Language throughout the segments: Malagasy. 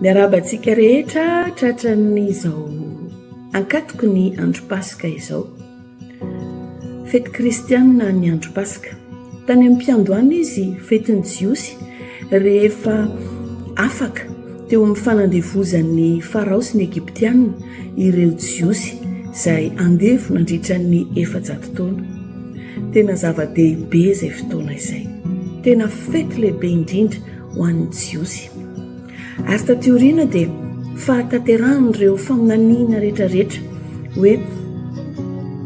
Miarahaba antsika rehetra tratran'izao ankatoky ny andro paska izao. Fety kristianina ny andro paska. Tany amin'ny mpiandohana izy fetin'ny jiosy rehefa afaka teo amin'ny fanandevozan'ny farao sy ny egyptianina ireo jiosy izay andevo nandritra ny efajato taona. Tena zava-dehibe izay fotoana izay. Tena fety lehibe indrindra ho an'ny Jiosy. Ary taty aoriana dia fahatanterahan'ireo faminaniana rehetrarehetra hoe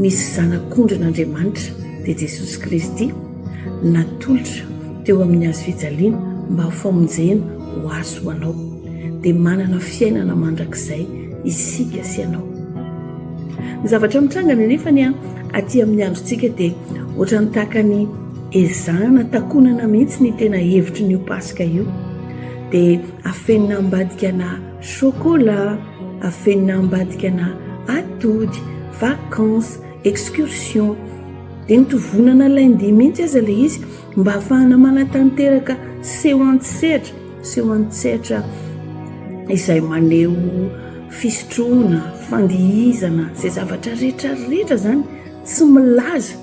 misy zanak'ondrin'Andriamanitra dia Jesosy Kristy natolotra teo amin'ny hazo fijaliana mba ho famonjena ho azy ho anao. Dia manana fiainana mandrakizay isika sy ianao. Ny zavatra mitrangana anefa ny aty amin'ny androntsika dia ohatran'ny tahaka ny Ezahana takonana mihitsy ny tena hevitry ny io Paska io. Dia afenina ambadikana chocolat, afenina ambadikana atody, vacances, excursion. Dia mitovonana lundi mihitsy aza ilay izy mba hahafahana manatanteraka seho an-tsehatra, seho an-tsehatra izay maneho fisotroana, fandihizana, izay zavatra rehetra rehetra izany tsy milaza.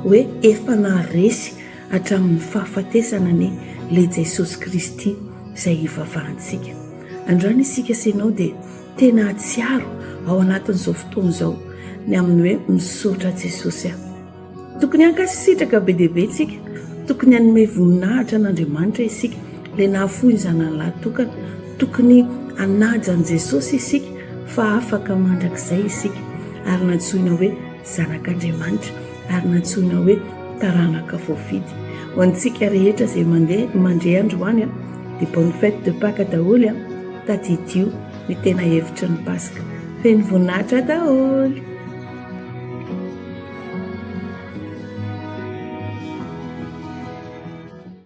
hoe efa naharesy hatramin'ny fahafatesana anie le Jesosy Kristy izay ivavahantsika. Andrana isika sy ianao dia tena hahatsiaro ao anatin'izao fotoana izao ny amin'ny hoe misaotra Jesosy aho. Tokony hankasitraka be dia be isika, tokony hanome voninahitra an'Andriamanitra isika le nahafoy ny zanany lahy tokana, tokony hanaja an'i Jesosy isika fa afaka mandrakizay isika ary nantsoina hoe Zanak'Andriamanitra ary nantsoina hoe taranaka voafidy. Ho antsika rehetra izay mandeha mandre androany dia bonne fête de Pâques daholo an! Tadidio ny tena hevitry ny Paska. Feno voninahitra daholo!